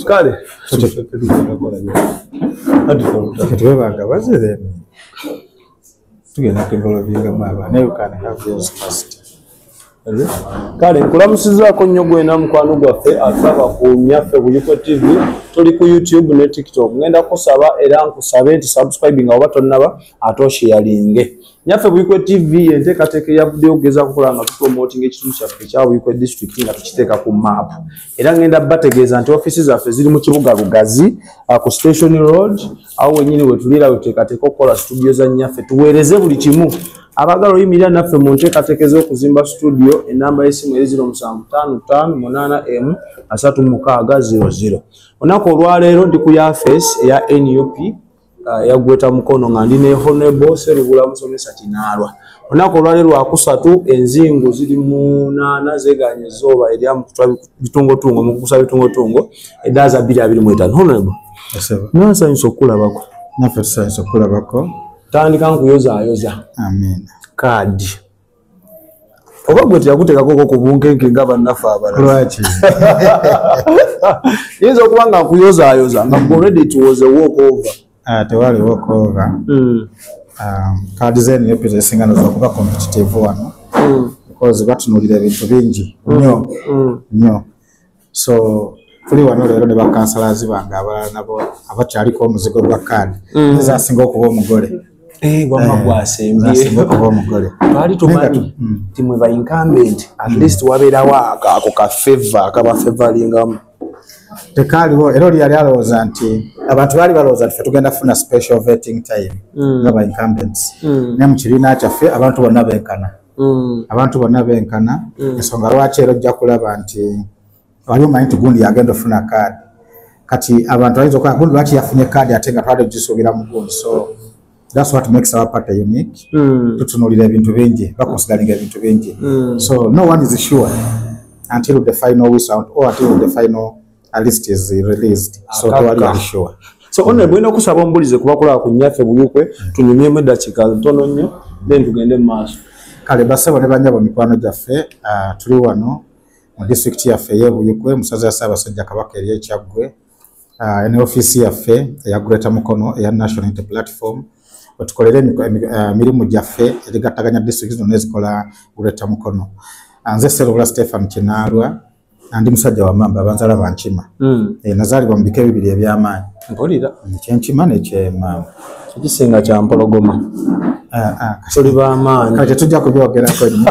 kale katwebanga bazire tugenda kevolovingamu abaana you can have yours first kale nkulamusizaako nnyo gwena mukwano gwaffe asaba ku nyaffe buyikwe tv tuli ku youtube ne tiktok ngenda kusaba era nkusabe nti subscribing oba tonnaba ate oshiyalinge nyaffe buikwe tv enteekateeka eyavuddeyo okugeza kukola nga tupromoting ekitundu kyaffe ekya buikwe district nga tukiteeka ku map era ngenda bategeeza nti offiisi zaffe ziri mu kibuga lugazi uh, ku station road awo wenyini wetuliira wetuteekateeka okukola studio za nyaffe tuweereze buli kimu abagala oyimirira naffe mu nteekateeka ez'okuzimba studio enamba y'essimu eri 0755813600 olunaku olwaleero ndi ku yafeesi eya nup Ah, yagweta mukono nga ndi nehonebo serubula musomesa kinaalwa olunaku olwali lwakusatu enzingu ziri munaana zeganye zooba erya mukutwa bitungotungo mukukusa bitungotungo edaaza biri abiri mwetano honebo nasanyusa okukulabako nafe tusanyusa okukulabako tandika nkuyozayoza kaadi oba gwe teyakuteekakoko ku bunkenke nga bannaffe abalalwaki yinza okuba nga nkuyozaayoza nga already it was a walk over ah, tewali walk over hmm. um, kaadi zeni yopita esinga noza okuba competitive wano hmm. because batunulira ebintu bingi hmm. nyo nyo so tuli wano leero ne bakansalazi bange abalala nabo abakyaliko omuzigo gwa kaadi mm. ezasinga okuba omugole eh, wamma eh, gwasembyeinga okuba omugole twali tumanyi mm. ti mwe bainkambenti at mm. least wabeerawo ako ka feva akaba fevalingamu tekaaliwo era oli yali alowooza nti abantu baali balowooza nti fe tugenda funa special vetting time nga bainkambenti naye mu kibiina kyaffe abantu bonna benkana mm. abantu bonna benkana mm. ensonga lwaki era ojja kulaba nti wali omanyi nti gundi yagenda ofuna kaadi kati abantu ayinza okola gundi lwaki yafunye kaadi ate nga twali ogisuubira mu gundi so that's what makes our party unique mm. tutunulira ebintu bingi bakonsidaringa ebintu bingi mm. so no one is sure until the final wisout or until the final at least is released so to what are sure so mm. only bwino kusaba ombulize kuba kula kunyafe buyukwe mm. tunyumye mu dakika ntono nnyo then tugende maaso kale basebo ne banyabo mikwano gyaffe uh, tuli wano mu district yaffe ye buyukwe musaza ya saba sajja kabaka eriye kyagwe uh, ne office yaffe ya greater mukono ya national inter platform otukolere uh, mirimu gyaffe erigattaganya district zino nezikola greater mukono uh, nze serola stephen kinalwa andi musajja wamamba abanzala bankima mm. e, nazaalibwa mu bika ebibiri ebyamaanyi mpulira kyenkima nekyemamba ekisinga kyampologoma ah, ah, tuli bamaanyi kati tujja kubyogerako nyo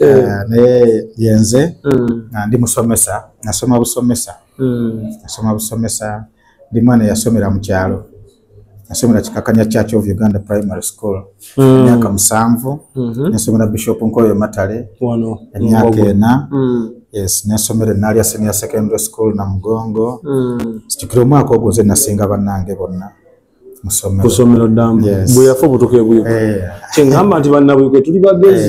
eh. ah, naye yenze mm. ndi musomesa nasoma busomesa mm. nasoma busomesa ndi mwana yasomera mu kyalo nasomera kikakanya church of uganda primary school mm. emyaka mm. musanvu mm -hmm. nasomera bishop nkoyo matale emyaka ena mm. yes nasomera enalia senior secondary school na mugongo mm. situkira omwaka ogwo nze nasinga bannange bonna kusomero damu yes. bweyafa obutuka ebuyuka eh. kyengamba nti bannabuyuka tuli bagezi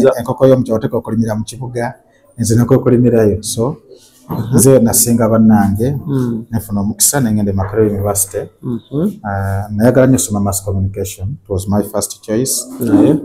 eh, enkoko yomukyoteka okulimira mu kibuga nze nekwekolimirayo so mhm. nze nasinga bannange mm. nefuna omukisa nengenda e makerere university mhm. ah, nayagala nyo soma mass communication it was my first choice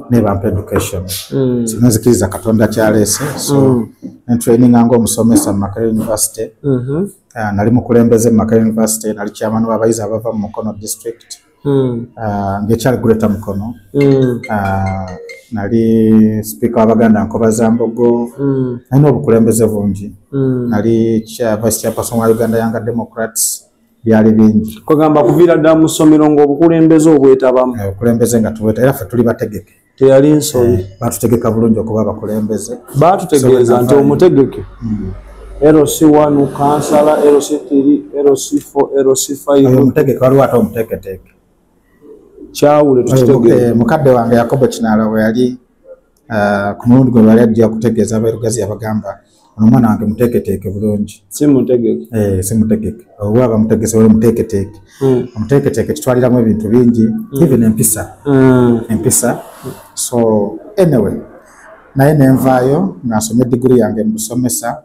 nebampa education mm. so nenzikiriza katonda kyaleese so mm. nentraininga nga omusomesa mu makerere university mhm. ah, nali mukulembeze mu makerere university nali kyamani wabayizi abava mu mukono district Hmm. Ah, ngekyali kuleta mukono hmm. ah, nali sipiika wabaganda nkoba za mbogo hmm. nalina obukulembeze bungi nali vice chairperson wa uganda younger democrats byali bingi kugamba kuviira ddala mu ssomero ngaobukulembeze obwetabamu eh, obukulembeze nga tubweta era fe tuli bategeke teyali nsobi eh, batutegeka bulungi okuba abakulembeze batutegeeza nti omutegeke hmm. LC one kansala LC three LC four LC five omutegeke waliwo ate omuteeketeeke kyawule tukitegeeza eh, mukadde wange yakobo kinaala we yali eh, ku mulundi gwe bali ajja okutegeeza abeerugazi yabagamba ono omwana wange muteeketeeke bulungi simutegeke eh, simutegeke oba bamutegese wali muteeketeeke hmm. omuteeketeeke kitwaliramu ebintu bingi hmm. even empisa hmm. empisa so anyway naye nenvaayo nasoma edigiri yange mubusomesa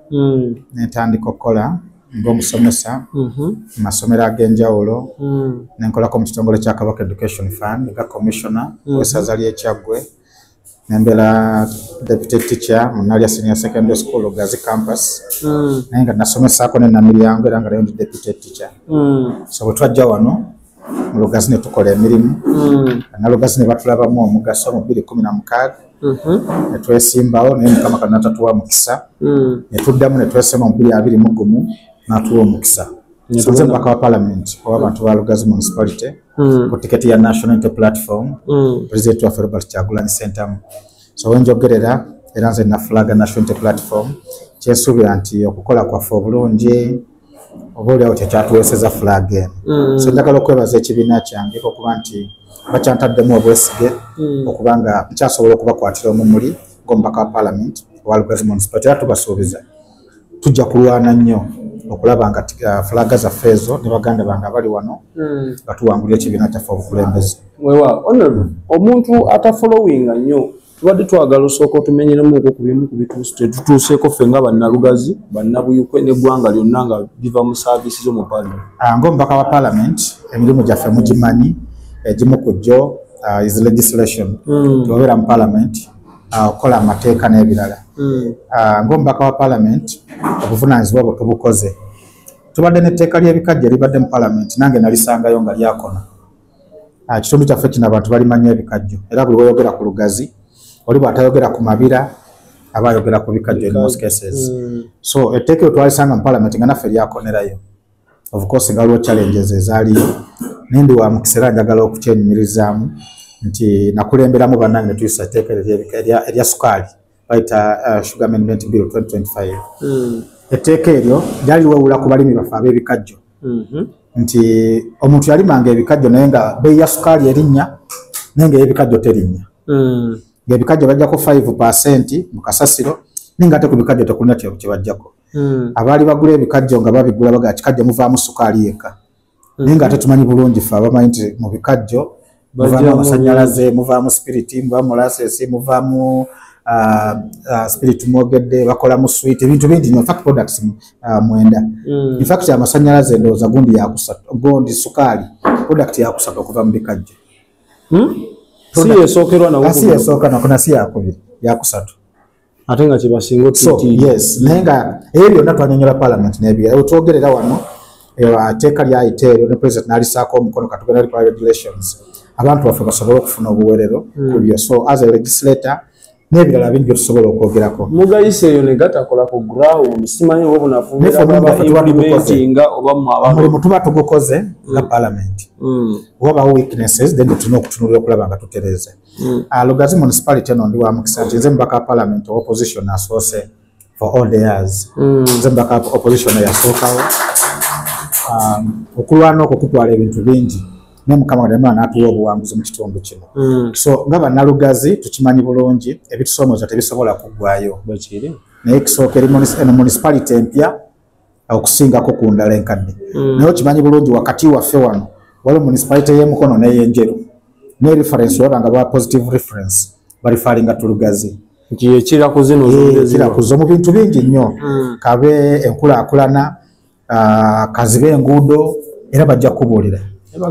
nentandika okukola ngaomusomesa mm-hmm. mu masomero ag'enjawulo nenkolako mu kitongole kya kabaka education fund nga commissioner mm-hmm. wesaza lyekyaggwe nembela deputy teacher munalya senior secondary school gazi campus mm. naye nga nasomesako nenamilyango era nga nayo ndi deputy teacher mm. so bwetwajja wano mulugazi netukola emirimu mm. nalugazi nebatulabamu omugaso mu biri kumi na mukaaga mm-hmm. netwesimbawo naye mukama kano natatuwa mukisa mm. netuddamu netwesema mu biri abiri mugumu natuwa omukisa sonze mubaka wa palamenti owabantu balugazi municipality mm. ku tiketi ya national inte platform mm. president waffe robert kyagulanyi sentamu so wenjogerera era nze nafulaga national inte platform kyensuubira nti okukola kwaffe obulungi oba oliawo kyekyatuweeseza flag eno mm. so njagala okwebaza ekibiina kyange okuba nti bakyantaddemu obwesige mm. okuba nga nkyasobola okubakwatira omumuli ngomubaka wa palamenti wa lugazi municipality era tubasuubiza tujja kulwana nnyo okulaba nga uh, fulaga zaffe ezo ne baganda bange abali wano hmm. nga tuwangulira ekibiina kyaffe obukulembeze wewa onor omuntu atafolowinga nnyo tubadde twagala osooka otumenyeremuko ku bimu ku bituuso tetutuuseeko ffe nga bannalugazi bannabuyukwe n'eggwanga lyonna nga biva mu saaviisi zo mu paalamenti ah, ngaomubaka wa paalamenti emirimu gyaffe mugimanyi egimu ku gyo uh, is legislation hmm. tebabeera mu paalamenti Ah, okukola amateeka n'ebirala hmm. ah, ngaomubaka wa palamenti obuvunanyizibwa bwe tubukoze tubadde netteeka lyebikajja libadde mu palamenti nange nalisangayo nga lyakona ah, kitundu kyaffe kino abantu balimanya ebikajjo era buli weyogera ku lugazi oli bwatayogera ku mabira aba ayogera ku bikajjo in most cases hmm. so etteeka etwalisanga mu palamenti nga naffe lyakonerayo of course nga waliwo challenges ezaaliyo naye ndi wa mukisa era njagala okukyenyumirizaamu nti nakulemberamu bannange ne tuyisa etteeka erya sukaali bayita uh, sugar amendment bill 2025 hmm. etteeka eryo lyali wewula ku balimi baffe ab'ebikajjo mm-hmm. nti omuntu yalimanga ebikajjo naye nga beeyi ya sukaali erinnya naye nga eyebikajjo terinnya hmm. ngaebikajjo bajjako 5 percent mu kasasiro naye nga ate ku bikajjo tekulina kyebajjako hmm. abaali bagula ebikajjo nga babigula baga kikajjo muvaamu sukaali yekka hmm. naye nga ate tumanyi bulungi fe abamanyi nti mu bikajjo muvaamu amasanyalaze muvaamu sipiriti muvaamu molasesi muvaamu ah, ah, spirit mwogedde bakolamu swit ebintu bingi nyo fact products ah, mwenda hmm. infact amasanyalaze ndowooza gundi yakusatu gundi sukaali product yakusatu okuva mu bikajjo si yesookerwa nawo si yesooka nakona si yakubiri yakusatu ate nga kyebasinga naye nga ebyo byonna twanyonyola palamenti nebirala twogerera wano teeka lyayita eryo ne president nalisaako omukono katugenda likola regulations abantu baffe basobole okufuna obuwerero hmm. kubyo so as a legislator nebirala bingi byetusobola okwogerako mugayisa eyo negatakola ku ground simanyi oba obunafuulimentinga oba mulimu tuba tugukoze nga hmm. palamenti hmm. oba bawo weaknesses then tulina okutunulira okulaba nga tutereze Mm. Uh, Lugazi municipality eno ndi wa mukisa nti nze mubaka parliament opposition asoose for all the years mm. nze mubaka opposition yasookawo um, okulwana okwo kutwala ebintu bingi naye mukama kadamala natuwa obuwanguzi mu kitundu kino mm. so nga banalugazi tukimanyi bulungi ebitusoomoza tebisobola kuggwayo naye kisooka eno municipality empya okusingako ku ndala enkadde mm. naye okimanyi bulungi wakati waffe wano waliwo municipality y'emukono n'eyenjeru ne reference olaba nga ba positive reference balifalinga tulugazi ekira eh, kuzo mu bintu bingi nnyo mm. kabe enkulaakulana ah, kazibe enguudo era bajja kubuulira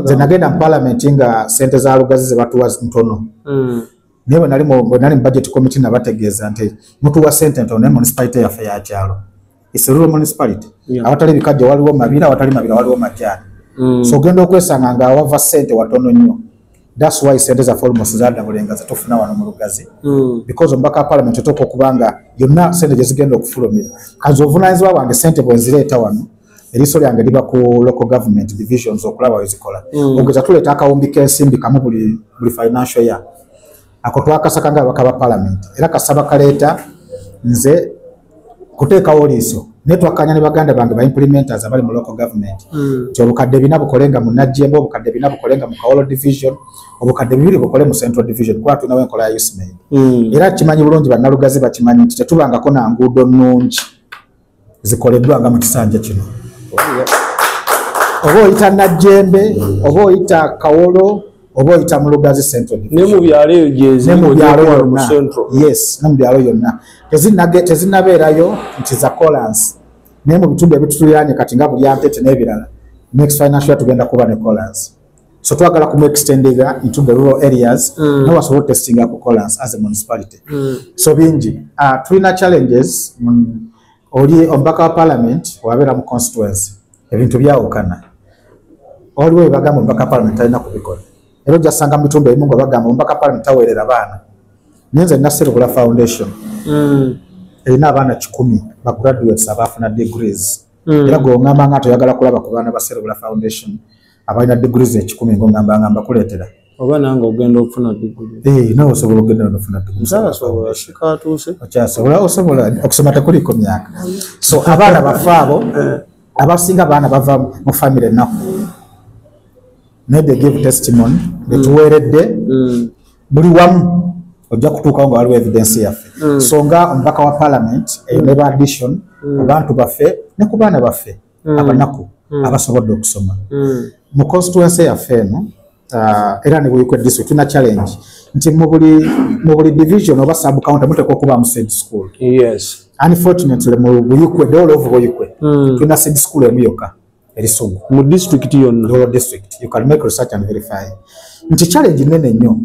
nze nagenda mu palamenti nga sente za lugazi zebatuwa ntono mm. naye bwenali mu bajeti committee nabategeeza nti mutuwa sente ntono naye municipality yaffe yakyalo it's a rural municipality yeah. awatali bikajja waliwo mabira awatali mabira waliwo majani mm. so ogenda okwesanga nga awava sente watono nnyo that's why sente zaffe almost zadabulenga zetufuna wano mu lugazi mm. because omubaka wa parliament otoka okuba nga yonna sente gye zigenda okufulumira kazi obuvunanyizibwa bwange sente bwenzireeta wano eriiso lyange liba ku local government divisions okulaba wezikola mm. ogeza tuleeta akawumbi k'ensimbi kamu buli, buli financial year ako twakasaka nga abaka ba palamenti era kasaba kaleeta nze kuteekawo liiso naye twakkanya ne baganda bange baimplementers abali mu local government hmm. nti obukadde bina bukole nga mu najjemba obukadde bina bukole nga mu kawolo division obukadde bibiri bukole mu central division kuba tulinawo enkola ya usmaid hmm. era kimanyi bulungi bannalugazi bakimanyi nti tetubangako na nguudo nnungi zikoleddwa nga mu kisanja kino oba oyita najjembe oba oyita kawolo oba oyita mu lugazi centralnemubyalo eyo gyezimubyalo yonna yes nemubyalo yonna tezinabeerayo nti za colansi naye mu bitundu ebitutuliranye kati nga bulyampete n'ebirala next financial tugenda kuba ne colansi so twagala kumu extendega into the rural areas mm. nawe asobola otestinga akukolas as a municipality mm. so bingi uh, tulina challenges mm, oli omubaka wa parliament wabeera mu constituency ebintu byawukana waliwo ebagamba omubaka wa parliament talina kubikola era ojasanga mu bitundu ebimu nga bagamba omubaka wa parliament taweerera baana naye nze naserukula foundation mm. erina abaana kikumi bagraduates abaafuna degrees mm. era gweoŋamba nga toyagala kulaba ku baana baserukula foundation abalina diguli zekikumi ngongamba nga mbakuleetera oba nange ogenda okufuna diguli eh, nawe osobola okugenda nofuna diguliokyasobola osobola okusoma tekuliko myaka so abaana bafe abo eh. abasinga abaana bava mu famiry enaku naye they give testimony betuweeredde mm. buli wamu ojja kutuukawo nga waliwo evidence yaffe mm. so nga omubaka wa parliament eyo eh, neba addition mm. ku bantu baffe ne ku baana baffe mm. abanaku mm. abasobodde okusoma mm. mu constituency yaffe eno uh, era ne buyikwe district tuna challenge nti mu buli division oba sub county muteeka okubaamu said school yes. unfortunately mu buyikwe the all of buyikwe mm. tuna said school emu yokka erisugu mu district yonna your district you can make research and verify nti challenge nene nnyo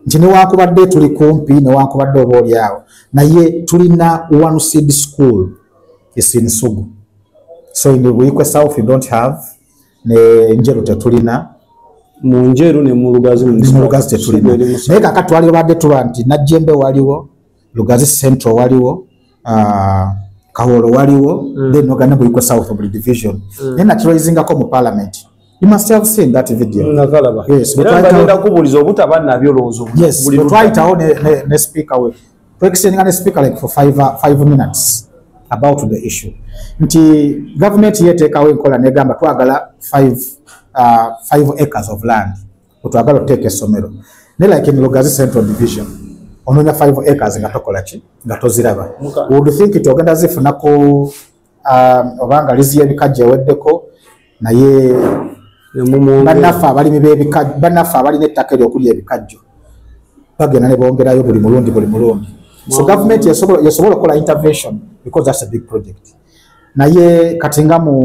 nti newankubadde tuli kumpi newankubadde oba olyawo naye tulina one seed school is in sugu so in buikwe south you don't have ne njeru tetulina mu njeru ne mu lugazi mu lugazi tetulina naye kaka twali obadde tuba nti najjembe waliwo lugazi central waliwo uh, kawolo waliwo mm. then ogana buikwe south of the division mm. naye nakiroizingako mu parliament You must have seen that video. Yes, but right now, yes, but right now, ne, ne speaker we, twekisindinga ne speaker like for five, uh, five minutes about the issue nti government yeteekawo enkola negamba twagala five, uh, five acres of land otwagala oteeka essomero ne like in lugazi central division ononya five acres nga tokola ki nga toziraba would think ti ogenda zifuna ku um, oba nga lizi y'ebikajjo eweddeko naye banaffe abalimi b'ebikajjo banaffe abalina ettaka eryo okuli ebikajjo bagenda ne bongerayo buli mulundi buli mulundi so government yasobola okukola intervention because that's a big project naye kati nga mu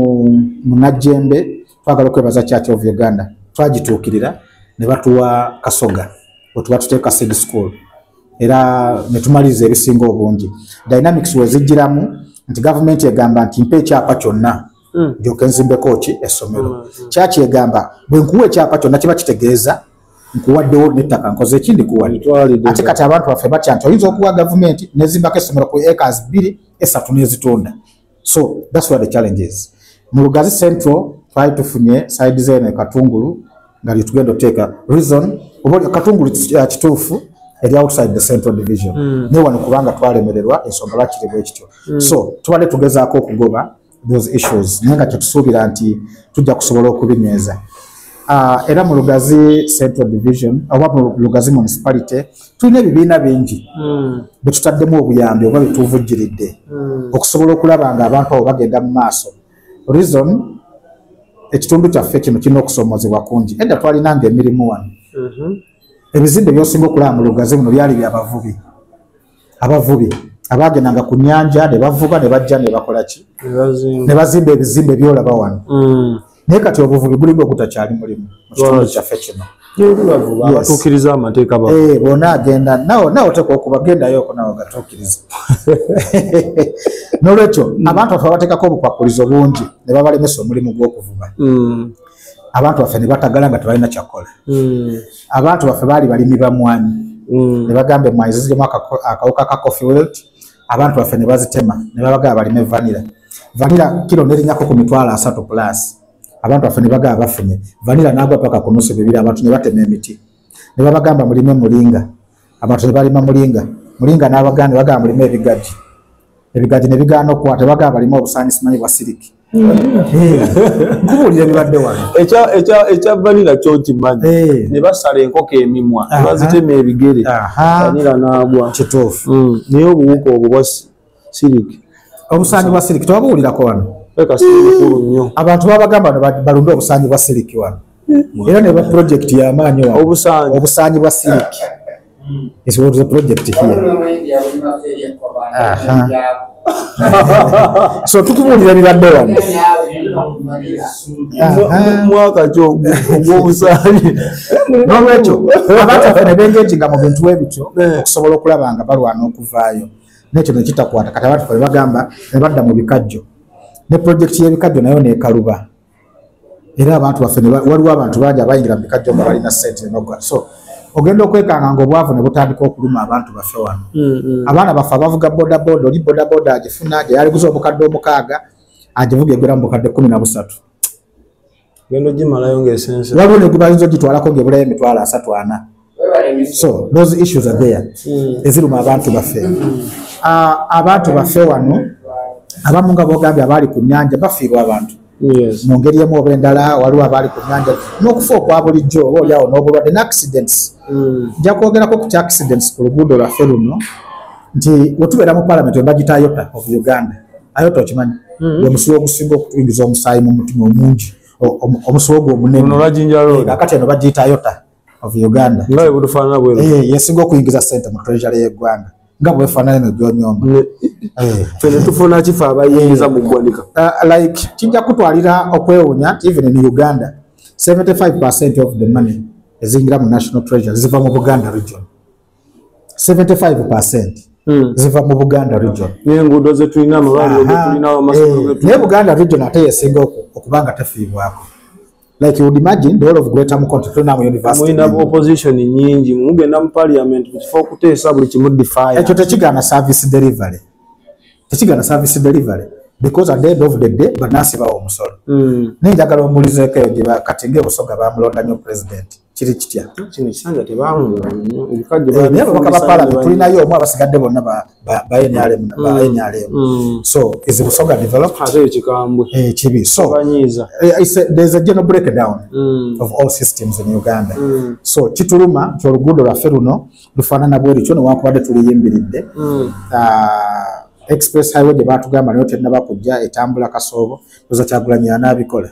munajjembe twagala okwebaza church of uganda twagituukirira ne batuwa kasoga wetuba tuteeka seed school era ne tumaliriza ebisinga obungi dynamics wezijjiramu nti gavumenti egamba nti mpa ekyapa kyonna hmm. ndyoke nzimbeko ki essomero hmm, hmm. kyaki egamba bwe nkuwa ekyapa kyonna kiba kitegeeza nkuwaddewo nettaka nkoze ekindi kuwadde ate kati abantu baffe batya nti oyinza okuwa gavumenti nezimbako essomero ku acres bbiri esatu nezitunda so that's where the challenge is mu lugazi central twali tufunye side zene katungulu nga lyetugenda oteeka reason oba katungulu uh, kituufu eri outside the central division mm. ne wano kubanga twalemererwa ensonga lwakiri bwekityo mm. so tubadde tugezaako okugoba those issues naye nga kyetusuubira nti tujja kusobola okubinyweza uh, era mu lugazi central division oba mu lugazi municipality tulina ebibiina bingi hmm. bwe tutaddemu obuyambi oba byetuvujjiridde hmm. okusobola okulaba nga abantu abo bagenda mu maaso reason ekitundu kyaffe kino kirina okusoomozebwa kungi edda twalina nga emirimu wano mhm. ebizimbe byosinga okulaba mu lugazi buno byali byabavubi abavubi abaagendanga ku nyanja ne bavuba ne bajja ne bakola ki ne bazimba ebizimbe byolaba wano hmm. naye kati obuvubi bulinga ogutakyali mulimu mu kitundu kyaffe kino abatuukiriza amateeka eh, bona agenda nawe oteeka okuba gendayoko nawe ogatuukiriza nolwekyo mm. abantu baffe babateekako obukwakulizo bungi ne babalemesa omulimu gw'okuvuba mm. abantu baffe ne batagala nga tebalina kyakukola mm. abantu baffe baali balimi bamwanyi ne bagamba emwanyi zizirimu akawuka ka coffee wilt abantu baffe ne bazitema ne babagala balime vanira vanira kiro nerinyako ku mitwalo asatu plus abantu baffe ne bagala bafunye vanira naagwa paka ku nusu bibiri abantu ne batema emiti ne babagamba mulime mulinga abantu ne balima mulinga mulinga n'abaganda bagamba mulime ebigaji ebigaji ne bigaana okukwata bagamba balime obusaani simanyi bwa siriki nkubuulira bibadde wano ekya vanira kyo nkimanyi eh. ne basala enkoko emimwa ne bazitema ebigere vanira n'agwa kituufu hmm. naye obuwuka obwo bwa siriki obusaanyi bwa siriki tewabuwulirako wano mukulu nnyo abantu babagamba balunde obusaanyi bwa siriki wano hmm. era ne ba pulojekiti yamaanyi obusaanyi bwa siriki It's what the project here. so tukubulira bibadde wano mwaka kyo ogwobusaali nolwekyo abataffe ne bengetinga mu bintu ebityo eh. okusobola okulaba nga balwana okuvaayo nekyo nekitakwata kati abataffe ne bagamba ne badda mu bikajjo ne projekiti y'ebikajjo nayo nekaluba era abantu baffe waliwo abantu bangi abayingira mu bikajjo nga balina sente noga so ogenda okwekanga nga obwavu ne butandika okuluma abantu baffe wano mm, mm. abaana baffe abavuga bodaboda oli bodaboda agifuna gye yaliguza obukadde omukaaga agivuga egera mu bukadde kumi na busatu waliwo ne gwe bayinza ogitwalako ngaebulayo emitwalo asatu ana so those issues are there hmm. eziruma abantu baffe ah, abantu baffe wano abamu nga bogambye abaali ku nyanja bafiirwa abantu mu ngeri emu oba endala waliwo abaali ku nyanja n'okufa okwa bulijjo oba oliawo n'obulwadde ne accidents hmm. nja kwogerako ku kya accidents ku luguudo lwaffe luno nti wetubeera mu parliament webagita ayota of uganda ayota okimanyi hmm. omusiwa ogusinga okutuyingiza omusaayi mu mutima omungi omusiwa ogwo omunene akati eno bagiyita ayota of uganda nawe butufaanana bwe eh, yesinga okuyingiza sente mu treasury y'eggwanga nga bwefaanana no gyonyomba eh. fene tufuna kifa abayingiza eh. mu ggwanika ah, like kijja kutwalira okwewunya even in uganda 75 percent of the money eziyingira mu national treasury ziva mu buganda region 75 percent Hmm. ziva mu buganda region naye buganda region ate yesinga okubanga tefiibwako like you would imagine the whole of greater mukono tuna mu university muyina opposition nyingi mugenda mu parliament bifo kutesa buli kimu defy ekyo tekigana service delivery tekigana service delivery because at the end of the day banasi bawo musolo mm. nenjagala omulizeko eyo gye bakatenge busoga bamulonda nyo president kiri kitya kino ekisanja tebawunga nnyo ebikajjo eh, naye ababaka ba palamenti tulinayo omu abasigadde bonna ba nrm mm. ba nrm mm. so is busoga develop ate ekikambwe eh, kibi so banyiiza eh, there's a general breakdown mm. of all systems in uganda so kituluma nti oluguudo lwaffe luno lufaanana bweri kyo newankubadde tuliyimbiridde ah, express highway gye baatugamba nayo terinaba kujja etambula kasoobo oza kyagulanyi anaabikola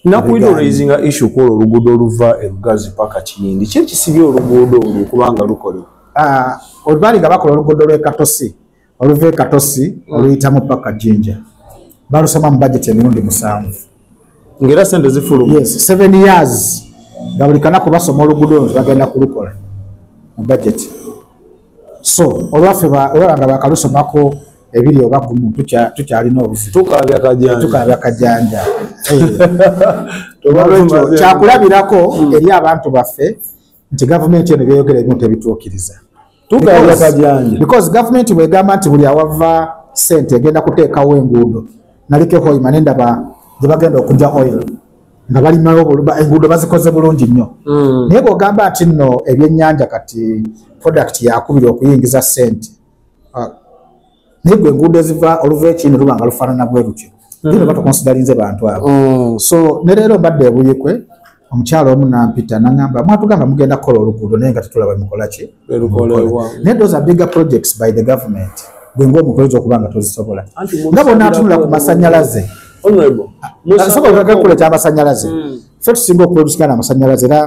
nakuidoraisinga issue kola oluguudo oluva erugazi paka kiyindi ki ekisibye oluguudo olwo kubanga lukole ah, olubali nga bakola oluguudo lwekatosi oluva ekatosi mm. oluyitamu paka jinja balusoma mu bajeti emirundi musanvu ngaera sente zifulu yes seven years nga buli kanaku basoma oluguudo olwo bagenda kulukola mu bajeti so olwaffe olaba nga bakalusomako ebiri oba kumu tukyalina obuzitukabya kajanja kyakulabirako hmm. eri abantu baffe nti gavumenti eno byeyogera ebimu tebituukiriza because gavumenti bwegamba nti buli awava sente egenda kuteekawo enguudo naliko ehoima nendaba gyebagenda okuja oil nga balimawo enguudo bazikoze bulungi nnyo hmm. naye bwogamba nti nno ebyenyanja kati product yakubira okuyingiza sente ah, naye gwe enguudo eziva oluva ekini luba nga lufaanana bwe lutyo era hmm. batukonsidalinze bantu abo hmm. so ne leero mbadde ebuyikwe omukyalo omu nampita nangamba mwatugamba mugenda kukola oluguudo naye nga tetulaba mukolaki naye those are bigger projects by the government gwe ngaomukoleza okuba nga tozisobola nga bonatunula ku masanyalaze asobola ah, ah, gakula ekyamasanyalaze hmm. fe tusinga okuprodusikana amasanyalaze era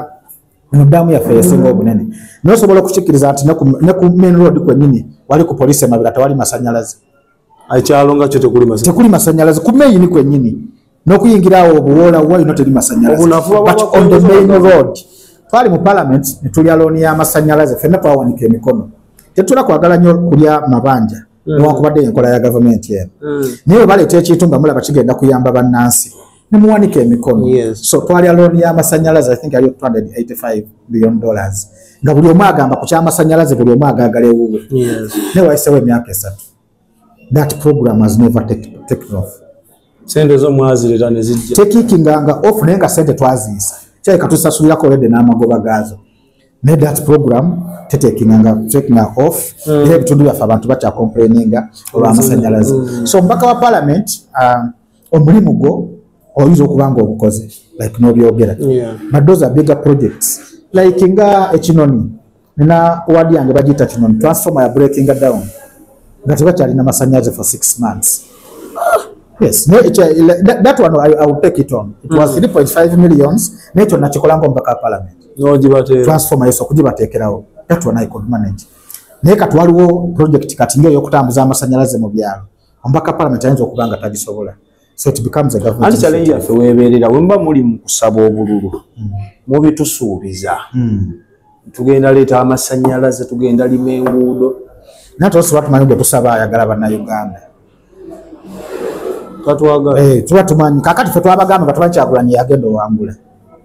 eno daamu yaffe yesinga obunene naye osobola okukikkiriza nti ne ku main road kwenyini wali ku poliisi emabira tewali masanyalaze ekyalo nga kyo tekuli masanyalaze ku meyini kwenyini nokuyingira awo obuwoola wayino teri masanyalazeonthemain road twali mu parliament netulya looni y'amasanyalaze fenna twawanika emikono tetula kwagala nyo kulya mabanja mm. newankubadde enkola ya gavumenti eno mm. naye webaleeta ekintu nga mulaba kigenda kuyamba bannansi nemuwanika emikono yes. so twalya looni y'amasanyalaze i think aliyo 285 billion dollars nga buli omu agamba ku kyamasanyalaze buli omu agagala ewuwe yes. naye wayisewo emyaka esatu that program has never taken off sente zo mwazirira ne zijja tekikinga nga off naye nga sente twaziyisa kyaye katusasulirako olede n'amagoba gaazo naye that program tetekinga nga tekinga off mm. era ebitundu byaffe abantu bakyakomplaininga olw'amasanyalaze mm. so omubaka wa parliament uh, omulimu gwo oyinza okuba nga obukoze like nobyogera but those are bigger projects like nga ekinoni nina wadi yange bagiyita kinoni transformer ya breakinga down nga tebakyalina masanyaze for six months yes ne ekyo that, that one I, I will take it on it mm. was 3.5 millions ne ekyo nakikola ngo mbaka parliament no jibate transformer yeso kujibatekerawo that one I could manage ne katwaliwo project kati ngeyo okutambuza amasanyalaze mu byalo omubaka palamenti ayinza okuba nga tagisobola anti challenge yaffe weebeerera wemuba muli mu kusaba obululu hmm. mubitusuubiza hmm. tugenda leeta amasannyalaze tugenda lima enguudo naye tosobola tumanyi gwe tusaba ayagala bannauganda eh, tuba tumanyi kakati fe twabagamba nga tumanyi kyagulanyi yagenda owangula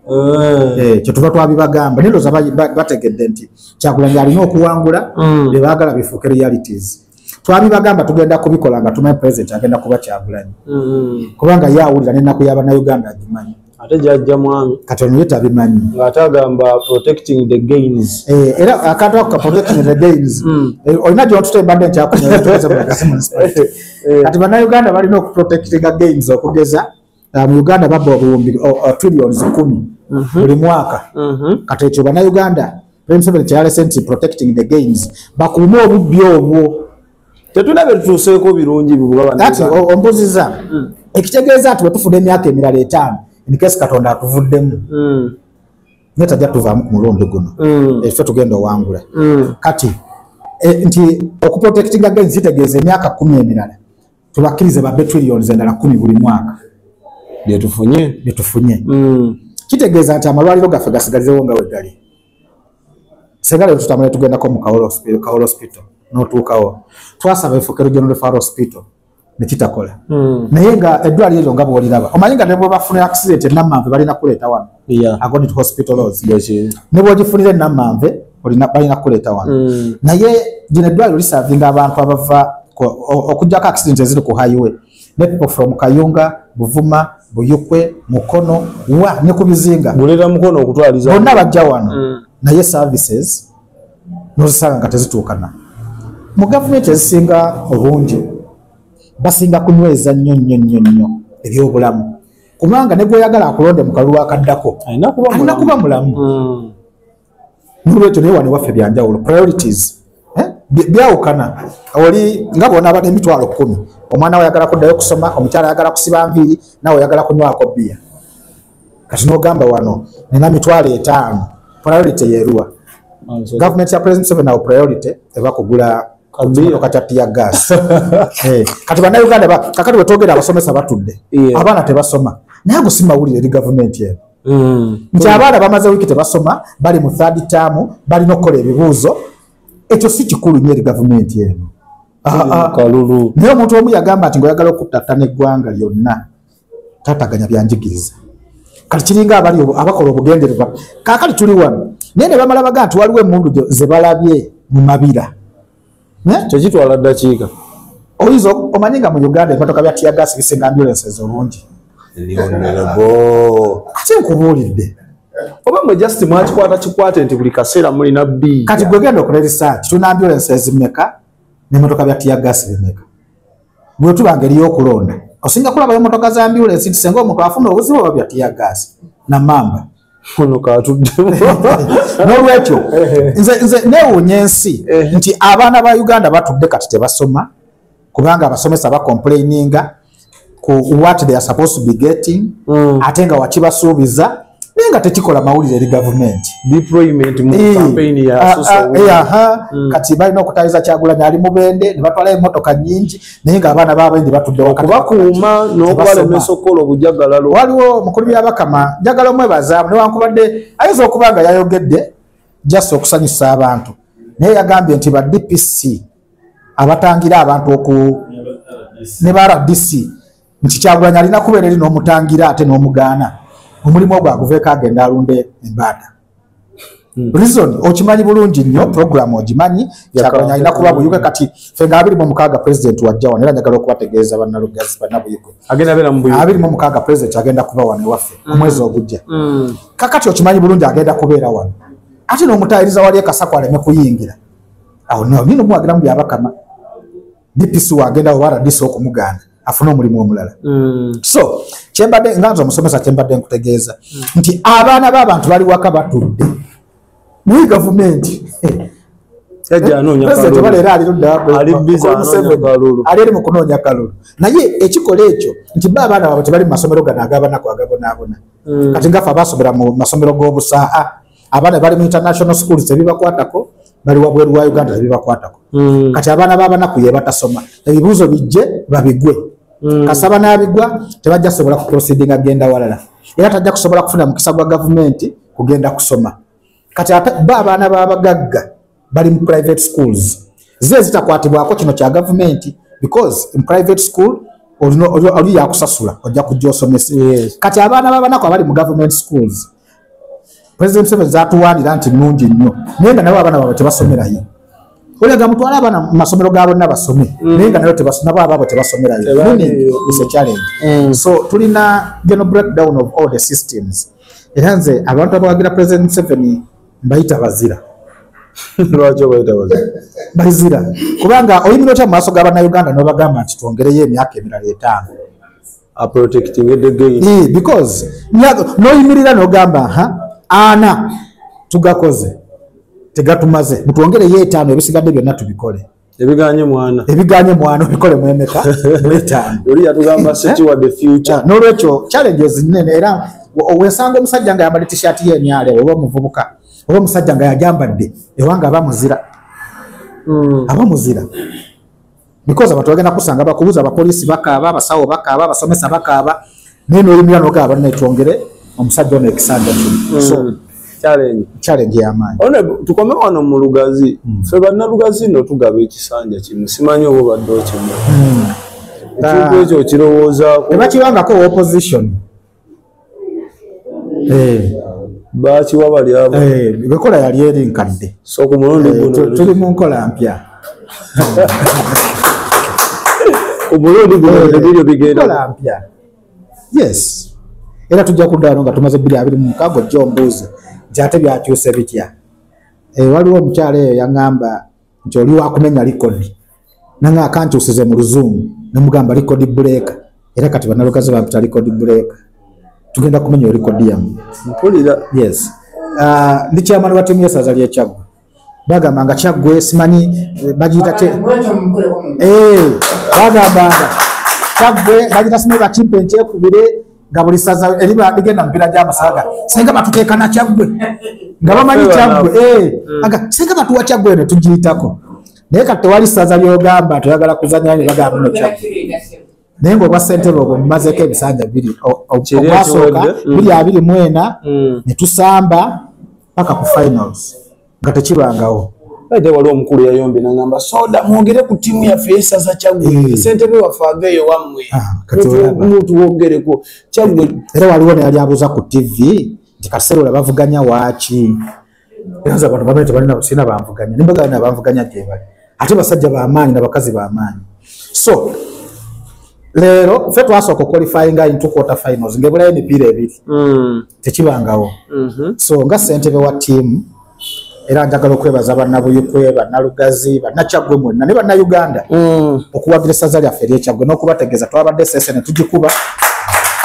Eh. Eh, kyetuva twabibagamba naye ndoza bategedde nti kyakulanya alina okuwangula mm. bebagala bifuuke realities twabibagamba tugenda kubikola nga tumanyi president agenda kuba kyagulanyi mm-hmm. kubanga ye awulira nenaku yabanauganda agimanyi ate jajja mwami kati onuye tabimanyi ngaate agamba protecting the gains eh, era akantu ako ka protecting the gains mm. eh, olina gyotuta embadde nkyakunyakati eh. banauganda balina okuprotectinga gains okugeza ah, mu uganda babba obuwumbi oh, oh, trillions kumi mhm. buli mwaka mhm. kati ekyo banauganda president kyalese nti protecting the gains bakuume obubbi obwo tetulina byetutuuseeko birungi bati ombuziza mm. ekitegeeza nti wetufuna emyaka emirala etaano enikesi katonda atuvuddemu mm. naye tajja tuvaamu ku mulundi guno mm. efe eh, tugenda owangula kati eh, nti okuprotectinga gains kitegeeza emyaka kumi emirala tubakkirize ba betrillions endala kumi buli mwaka byetufunye byetufunye mm. kitegeeza nti amalwaliro gaffe gasigalizewo nga wegali senga lero tutambula tugendako mu kaol hospital notuukawo twasaba efukero general hospital nekitakola mm. naye nga eddwaliro eryo nga bwoliraba omanyi nga nebwebafuna accident enamanve balina kuleeta wano yeah. according to hospital laws mm. ne bwogifunira enammanve balina kukuleeta wano mm. naye gino eddwaliro lisavinga abantu abava okujjako accident eziri ku highway ne people from kayunga buvuma buyukwe mukono wa ne ku bizinga bonna bajja wano mm. naye services nozisanga nga tezituukana mu gavumenti ezisinga obungi basinga kunyweza nnyo nnyo nnyo nnyo ebyobulamu kubanga ne gweyagala akulonde mu kalulu akaddako alina kuba mulamu hmm. nolwekyo naye wano waffe byanjawulo priorities eh? byawukana oli nga bona abadde emitwalo kumi omwana we oyagala kuddayo kusoma omukyala ayagala kusiba nviiri nawe oyagala kunywako bbiya kati nogamba wano nina mitwalo etaano priority yeruwa gavumenti ya president seven awo priority eva kugula Eh, kati banauganda kakati wetwogera abasomesa batudde abaana tebasoma naye ago si mawulire eri gavumenti eno mm. nti abaana bamaze wiiki tebasoma bali mu third term balina okukola ebibuuzo ekyo si kikulu nyo eri gavumenti eno ah, ah. naye omuntu omu yagamba nti ngaoyagala okuttattana eggwanga lyonna tataganya byanjigiriza kati kiringa abali abakola obugendererwa kakali tuli wano naye ne bamala baga nti waliwo emundu ze balabye mu mabira kyekitwala ddakiika oyinza omanyi nga mu uganda emotoka bya tiyagas bisinga ambulances olungi ate nkubuulidde oba mwe just mwakikwata kikwate nti buli kaseera mulina bi kati gwegenda okola erisaki tuna ambulances meka nemotoka bya tiyagas bimeka bwetuba ngeri yokulonda osinga kulabayo motoka za ambulensi nti senga omuntu afuna obuzibu oba byatiya gaasi namamba ono katuddemu nolwekyo nze newunya ensi nti abaana ba uganda batudde kati tebasoma kubanga abasomesa bakomplaininga ku what they are supposed to be getting mm. ate nga wakibasuubiza naye nga tekikola mawulire eri gavumenti kati balina okutayiza kyagulanyi ali mubende nebatwala emotoka nyingi naye nga abaana babendi batuddeokubakuuma nokubalemesa okukola obujagalalo waliwo mukulu byabakama njagala omwebazaamu newankubadde ayinza okuba nga yayogedde just okusanyusa abantu naye yagambye nti ba dpc abatangira abantu oku ne ba rdc nti kyagulanyi alina kubeera eri n'omutangira ate n'omugaana omulimu ogwo aguveeko agenda alunde embaada hmm. reason okimanyi bulungi nnyo program ogimanyi kyagulanyi alina kuba buyuge kati fe nga abiri mu mukaaga president wajja wano era njagala okubategeeza bannalugazi bannabuyuge abiri mu mukaaga president agenda kuba wano ewaffe hmm. omwezi ogujja hmm. kakati okimanyi bulungi agenda kubeera wano ate n'omutayiriza wali ekasaku aleme kuyingira awo nawo nyina omuwagira mu byabakama dpc wagenda oba rdc okumuganda afune omulimu omulala mm. so kyembadde nga nze omusomesa kyembadde nkutegeeza mm. nti abaana b'abantu bali waka batudde naye gavumenti ali mu kunoonya kalulu naye ekikola ekyo nti ba abaana baabwe tebali mu masomero gano agabanaku agabonabona mm. kati ngafe abasomera mu masomero g'obusaa abaana bali mu international schools tebibakwatako bali wabweru wa uganda tebibakwatako mm. kati abaana babanaku yebatasoma ebibuuzo bijje babigwe mm. kasaba nabigwa tebajja sobola kuproceeding agenda walala era tajja kusobola kufuna mukisa gwa gavumenti kugenda kusoma kati ate ba abaana babagagga bali mu private schools ze zitakwatibwako kino kya gavumenti because in private school oli yakusasula ojja kujja osomesa kati abaana babanaku abali mu government schools president seven zatuwanira nti nungi nnyo naye nga nabo abaana babwe tebasomerayo olega mutwala abaana mu masomero ga bonna basome mm. naye nga nayo nabo ababo tebasomerayo is a challenge mm. so tulina geno breakdown of all the systems era nze abantu abawagira president seven mbayita bazira lwaki obayita bazira bazira kubanga oyimira otya mu maaso ga bannayuganda nobagamba nti twongereyo emyaka emirala etaano because noyimirira nogamba ha ana tugakoze tegatumaze mutwongereyo etaano ebisigadde byonna tubikole ebiganye mwana ebiganye mwana obikole mwemeka mwetaano oli yatugamba eh? sekiwa the future ah, nolwekyo challenges nene era wesanga omusajja nga yambadde t-shirt ye emyale oba omuvubuka oba omusajja nga yajambadde ewanga aba muzira hmm. aba muzira because abantu bagenda kusanga bakubuza abapoliisi bakaaba abasawo bakaaba abasomesa bakaaba naye noyimira nogaa banne twongere omusajja ono ekisanja kino hmm. so challenge yamaanyi tukome wano mu lugazi hmm. fe bannalugazi no tugaba ekisanja kimu simanyi oba obadde okimu hmm. ekintu ekyo okirowoozaako tebakibangako opposition eh. bakiwa bali abo eh, bekola yali eri nkadde so ku mulundi eh, guno tuli mu nkola mpya omulundi guno eh, ebiryo bigenda mpya yes era tujja kuddaano nga tumaze biri abiri mu mukago jjo ombuuzi nti ate byakyuse bitya eh, waliwo omukyalo eyo yaŋŋamba nti oli wakumenya likodi nanga akankyusize mu luzungu nemugamba likodi buleeka era kati banalukazi bampita likodi buleeka tugenda kumenya olikodi yamu mpulira yes ah, ndi kyamani wa tiimu yesaza lyekyaggwe bagamba nga kyaggwe simanyi eh, bagiyita te eh, bagamba nga kyaggwe bagiyita simanyi bakimpe nkyekubire nga buli saza eriba ligenda mubiira gy'amasaga singa batuteekana kyaggwe nga bamanyi kyaggwe eh, hmm. aga singa batuwa kyaggwe eno tugiyitako naye kati tewali saza lyogamba toyagala kuzanyayo bagamba no kyaggwe naye ngaobwa ssentebe obwo mumazeeko ebisanja biri obwasooka mm. biri abiri mwena mm. ne tusamba paka ku finals nga tekibangawo ate waliwo omukulu yayombe nagamba soda mwogere ku tiimu yaffe yesaza kyaggwe eh. sentebe waffe aveeyo wammwe ah, omuntu wogereko kyaggwe era waliwo neyali abuuza ku tivi nti kaseera olabavuganya waaki era nze abantu bamanya tebalina sirina banvuganya ne mbagala nabanvuganya gyebali ate basajja bamaanyi nabakazi bamaanyi so leero fe twasooka okwalifyinga into quarter finals ngaebulayo emipiira ebiri mm. tekibangawo mm-hmm. so nga sentebe wa tiimu era njagala okwebaza bannabuyikwe bannalugazi bannakyaggwe mwenna ne bannauganda mm. okuwagira essaza lyaffe eryekyaggwe n'okubategeeza twabadde sese ne tugikuba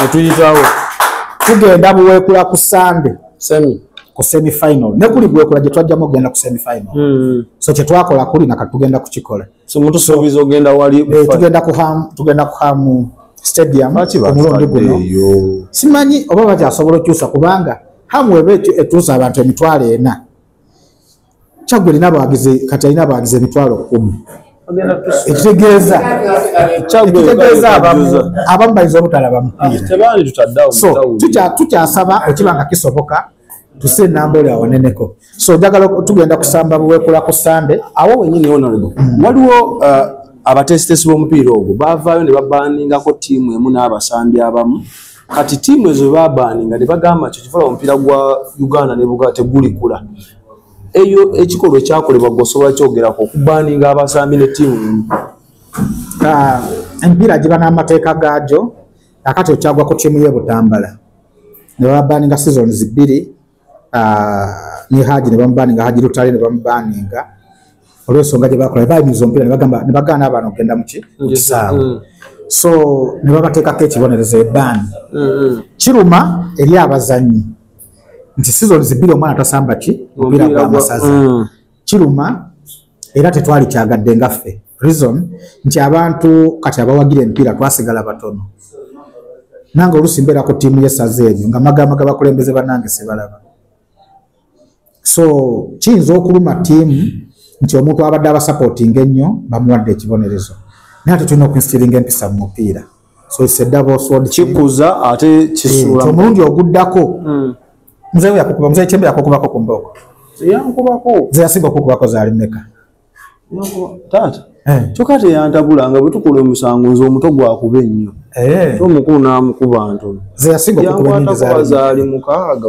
ne tuyitawo tugenda buweekula ku sande semi ku semi final ne kuli gwe kula je twajja mo genda ku semi final mm. so che twakola kuli na katugenda kuchikola so muntu sobizo so, genda wali eh, tugenda ku ham tugenda ku ham stadium omulondi guno simanyi oba bakyasobola okyusa kubanga hamu ebe etuusa abantu emitwalo ena kyagwe lina abawagizi kati alina abawagizi emitwalo kumi ekitegeeza ekitegeeza abamu abamu bayinza obutalaba mupiira tukyasaba okiba nga kisoboka tuse enamba oli awoneneko so njagala tugenda kusamba buwekula ku sande awo wenyini onalbo mm. waliwo uh, abatesitesi b'omupiira ogwo bavaayo ne babaningako tiimu emu n'abasambi abamu kati tiimu ezo webabaani nga nebagamba nti kivala omupiira gwa uganda nebugaa tegulikula eyo ekikolwa ekyakolebwa gwe osobola kyogerako okubaaninga abasambi ne tiimu ah, emipiira giba n'amateeka gaajo akati okyagwa ku tiimu ye butambala nebabaaninga sizoni zibiri ne haji ne bamubaninga haji lutale ne bamubaninga olwensonga gye bakola bayimiza omupiira nebagamba ne bagaana abaana okugenda muki mu kisaawe mm. so ne babateekako ekibonerezo ebaani mm-hmm. kiruma eri abazannyi nti sizoni zibbiri omwana tasamba ki mupiira gwa masaza mm. kiruma era tetwali kyagadde nga ffe reason nti abantu kati abawagira emipiira twasigala batono nange olusi mbeera ku tiimu yesaza ebyo nga magamba gabakulembeze banange sebalaba so kiyinza okuluma tiimu nti omuntu abadde abasapootinga ennyo bamuwadde ekibonerezo naye ate tulina okunsitiringa empisa mu mupiira so it's a double sword kikuza ate kisula eh, omulundi oguddako hmm. mzee yakukuba mzee chembe yakukubako ku mbogo yankubako mzee yasinga okukubako zaali meka taata eh. kyoka teyantabula nga bwetukola omusango nze omuto gwakuba ennyo eh. omukulu namukuba ntono yakwatakuba zaali mukaaga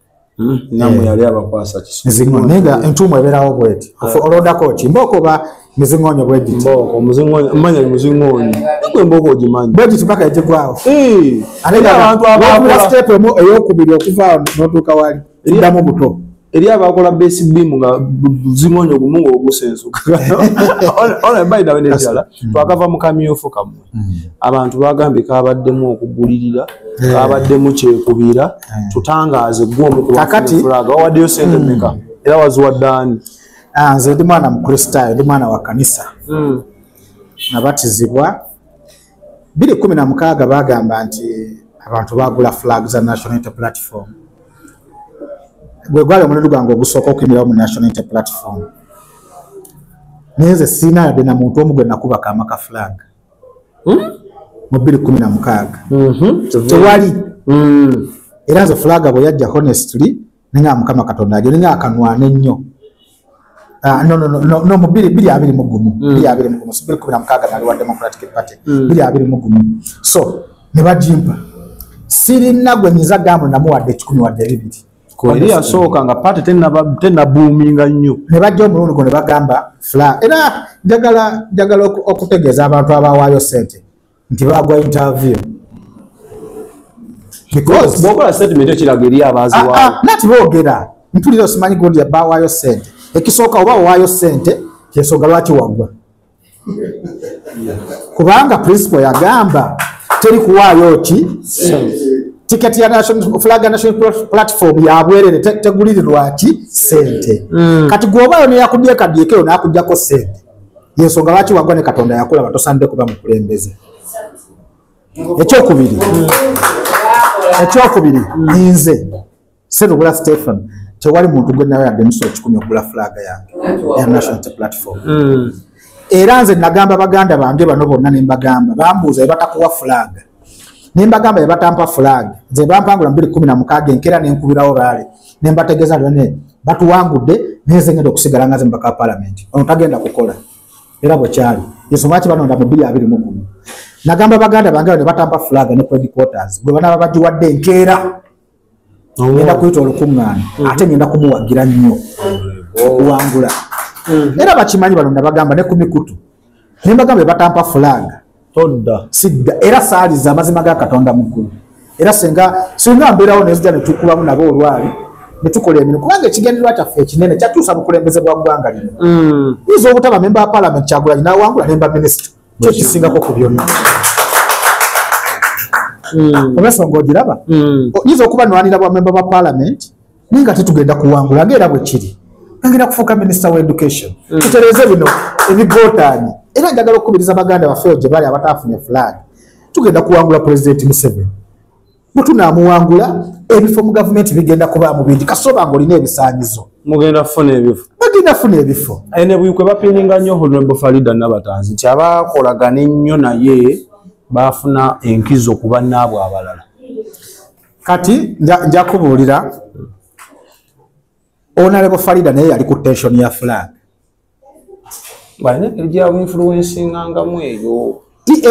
Hmm, namwe eh. yali abakwasa kisinga entuumu ebeerawo bweti ah. olodako ki mbooko oba mizingonyo bwegitimanyi muzingonyo gwe mbooko ogimanyi bwegiti paka egigwawo eh. ateabantuastepu emu eyokubiri okuva notuuka wali eddamu buto eri abakola besibimu nga buzingonyo gumu ngaogusensuka hmm. twakava mukamyufu kamwe abantu bagambye kabaddemu okugulirira eh. kabaddemu kyekubira eh. tutangaaze gwomukubawaddeyo sente hmm. meka era waziwadde ani ah, nze ndi mwana mukristaayo ndi mwana wa kanisa hmm. nabatizibwa biri kumi na mukaaga bagamba nti abantu bagula flag za national inter platform gwe gwali omulundi gwange ogusooka okuyimirawo mu national inter platform naye nze sirina yadde na muntu omu gwe nakuba kaama ka flag hmm? mu bbiri kumi na mukaaga mm-hmm. tewali hmm. era nze flag bwe yajja honestly ninga mukama katonda ajo ninga akanwana ennyo Ah, no, no, no, no, no, mu biri biri abiri mugumu mm. biri abiri mugumu so biri kumi na mukaaga nali wa democratic party mm. biri abiri mugumu so ne bagimpa sirina gwe nyinza gamu namu wadde kikumi wadde bibiri kweri yasooka nga party tenabuuminga nnyo ne bajja omulundi gwo ne bagamba fla era njagala njagala okutegeeza abantu abawaayo sente nti bagwa interview because bokola statement ekiraga eri abaziwa ah, ah, nati bogera mpulira osimanyi gundi yabawayo sente ekisooka oba owayo sente kyensonga lwaki wagwa kubanga principal yagamba teri kuwaayo ki ticket ya national flag national platform ya bwerere tegulirirwa ki sente hmm. kati gwobayo neyakubye kadiekeo nakujjako sente yensonga lwaki wagwa ne katonda yakulaba tosanidde kuba mukulembeze ekyokubiri ekyokubiri nze serubula stephen tewali muntu gwe nawe yadde musa ekikumi okugula fulaga yange ya national platform hmm. era nze nagamba baganda bange bano bonna nembagamba bambuuza ebatakuwa fulaga nembagamba bebatampa flag nze bampangula mubiri kumi na mukaaga enkera nenkubirawo raale nembategeeza lone batuwangudde neze ngenda okusigala ngaze mubaka wa palamenti ono tagenda kukola era bwekyali ensonga ki banonda mu biri abiri mugumu nagamba baganda bange ne batampa flag ne credit quarters gwe banaba bagiwadde enkeera oh. ngenda kuyita olukuŋŋaana mm-hmm. ate ngenda kumuwagira nnyo oh. okuwangula mm-hmm. era bakimanyi bano nabagamba ne ku mikutu ne mbagamba ebatampa fulanga todda sidda era saaliza amazima ga katonda mukulu era singa singa mbeerawo nezija netukubamu nabo olwali netukola emirimu kubanga ekigendererwa kyaffe ekinene kyatuusa bukulembeze bwa ggwanga lino mm. yinza obutaba memba wa palamenti kyagulanyi nawangula nemba minisita kyo kisingako ku byonna hmm. olwensonga ogiraba hmm. oyinza okuba nwanira bwamemba ba palamenti naye nga tetugenda kuwangula nga era bwekiri agenda kufuuka minisita wa education hmm. tutereeze bino ebigotaanye era njagala okukubiriza baganda baffe ogyebali abataafunye fulaani tugenda kuwangula pulezidenti museveni bwetunaamuwangula ebifo mu gavumenti bigenda kuba mu bingi kasoba nga olina ebisaanyizo mugenda kufuna ebifo bagenda kufuna ebifo aye ne buyikwe bapininga nnyo honorable farida nabatanzi nti abakolagana ennyo naye baafuna enkizo ku bannaabwe abalala kati nja kubuulira onalebo farida naye yali ku tension ya flag balina engeri gyabu influensingangamu eyo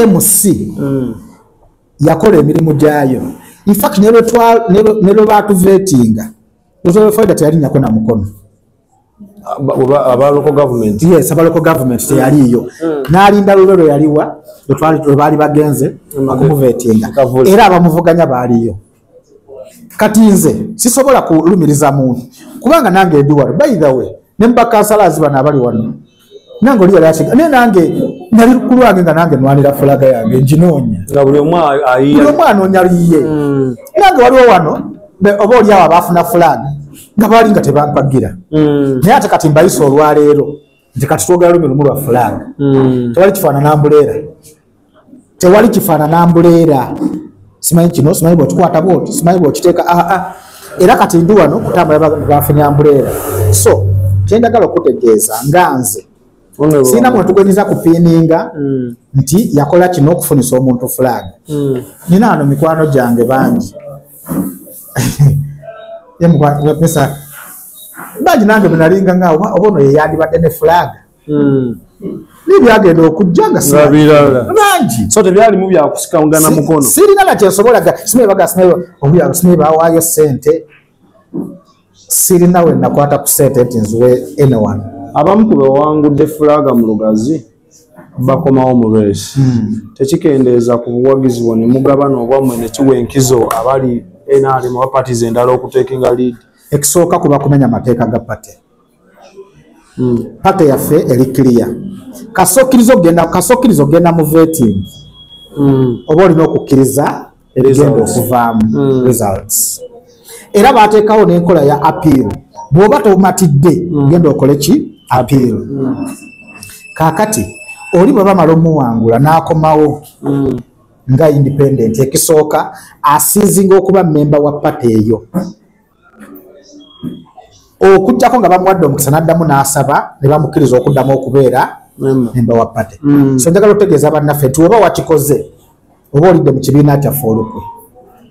emc hmm. yakola emirimu gyayo infact nelwebatuvetinga lwetwabefaida teyalinyako na mukono abaloko gavument yes abaloko gavument teyaliiyo hmm. nalinda lulwe lweyaliwa lwebaali bagenze okumuvetinga era abamuvuganya baaliyo kati nze sisobola kulumiriza muntu kubanga nange ndi wano by the way ne mubakansala azi bano abali wano nange oli yali asiga naye nange nali ku lwange nga nange nwanira fulaga yange nginoonya nga buli omu anoonya liye hmm. nange waliwo wano oba oliawo abaafuna fulaga nga baali nga tebampagira hmm. naye ate kati mbayisa olwaleero nti kati twogera lumi lumu lwa fulaga hmm. tewali kifaanana mbuleera tewali kifaanana mbuleera simanyi kino simanyi bwetukwata bwoti simanyi bwekiteeka aa ah, ah. era kati ndi wano kutambula bafunya mbuleera so kyendagala okutegeeza nga nze sirina mwetugonyeza kupiininga mm. nti yakola kino okufunisa omuntu flag mm. nina ano mikwano gyange bangi bangi nange bwenalinga nga oba ono yeyandibadde ne flag hmm. nebyagenda okujja nga bangi so tebyalimu byakusikagana mukono sirina nakyensobola sinebagasinaebawaayo sente sirina wenakwata ku sente nti nziwe anyone abamu ku bewangudde fulaga mu lugazi bakomawo mu lwesi hmm. tekikendeeza ku buwagizi bwo ne mugabana obwammwe ne kiwa enkizo abali nrm oba patis endala okuteeka nga lead ekisooka kuba kumenya amateeka ga pate hmm. paka yaffe eri kiriya kasokkiriza okugenda kasokkiriza okugenda mu veting hmm. oba olina okukkiriza ebigenda okuvaamu hmm. results era baateekawo n'enkola ya appeal bw'oba tomatidde genda okole ki appeal kaakati oli bwe bamala omuwangula n'akomawo nga independent ekisooka asiizinga okuba memba wa pate eyo okujjako nga bamuwadde omukisa n'addamu n'asaba ne bamukkiriza okuddamu okubeera memba wa pate mm. so njagala otegeeza bannaffe nti oba wakikoze oba olidde mu kibiina kyaffe olukwe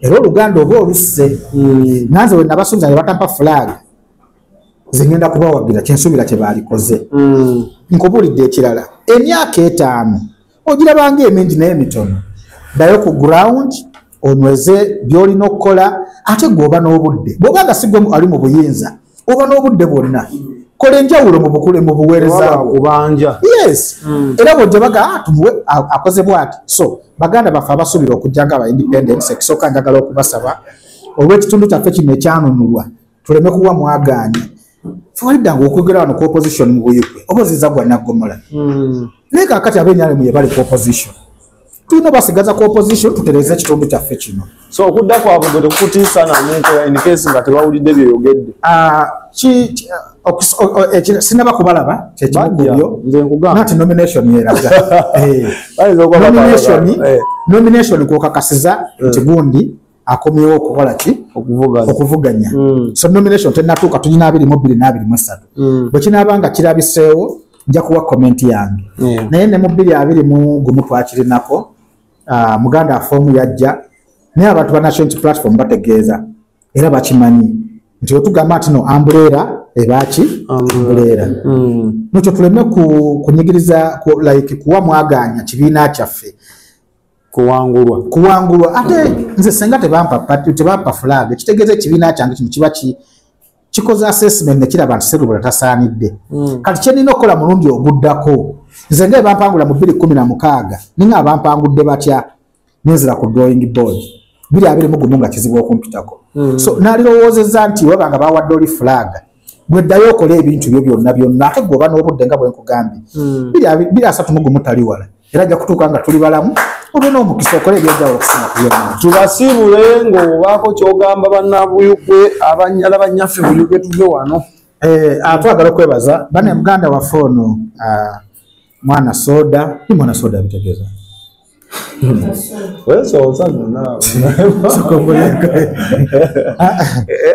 era oluganda oba olusse mm. nanze we nabasuubiza ne batampa fulaaga zengenda kubawagira kyensuubira kye baalikoze mm. nkubuulidde ekirala emyaka etaano ogirabanga emingi naye mitono dayo ku ground onweze byolina okukola ate gweoba n'obudde bwoba nga sigwe ali mu buyinza oba n'obudde bwonna kola enjawulo mu bukule mu buweerezakubanja yes hmm. era bwojja baga ah, tumuwe akoze bwati so baganda baffe abasuubira okujja nga aba independence ekisooka njagala okubasaba olw'ekitundu kyaffe kino ekyanunulwa tuleme kuwa mwagaanyi fewaliddanga okwogera wano ku opposition mu buyigwe oba oziza gwa naggomola hmm. naye kakati abenyalemu ye bali ku opposition tulina basigaza ku opposition tutereze ekitundu kyaffe kino so okudda kwabwe gwe tekukutiisa namuntu enkesi nga tebawulidde byeyogeddebyo ah, eh, sinaba kubalaba kyekimukubyo nti nomination yeraga eh. nomination eh. kwokakasiza nti gundi akomyewo okukola ki okuvuganya hmm. so nomination tenatuuka tulina abiri mubiri n'abiri mu essatu hmm. bwe kinaaba nga kirabiseewo nja kuwa komenti yange hmm. naye ne mubiri abiri mu gumu twakirinako ah, muganda afoomu yajja naye abantu ba national unity platform bategeeza era bakimanyi nti wetugamba nti no ambuleera ebaaki ambuleera nokyo tuleme kunyigiriza like kuwa mwaganya kibiina kyaffe kuwangulwa kuwangulwa ate nze senga tebampa pati tebampa flag kitegeze kibina kyange kino kiba ki kikoze assessment ne kiraba nti serubula tasaanidde mm. kati kye nina okukola mulundi oguddako nze nga ebampangula mu bbiri kumi na mukaaga ninga abampangudde batya nenzira ku drawing board biri abiri mugumu nga kizibu okumpitako mm. so nalirowoozeza nti webanga bawadde oli fulaga gwe ddayo okole ebintu byo byonna byonna ate gwe oba n'obudde nga bwe nkugambye hmm. biri asatu mu gumu tali wala era ajja kutuuka nga tuli balamu obe n'omukisa okole ebyajawulo okusina ku byonna tubasiibule ng'obaako ky'ogamba bannabuyugwe abanyala bannyaffe buyugwe tuve wano eh, ah, twagala okwebaza bane muganda waffe ono ah, mwana soda ni mwana soda abitegeeza Wewe soza nuna.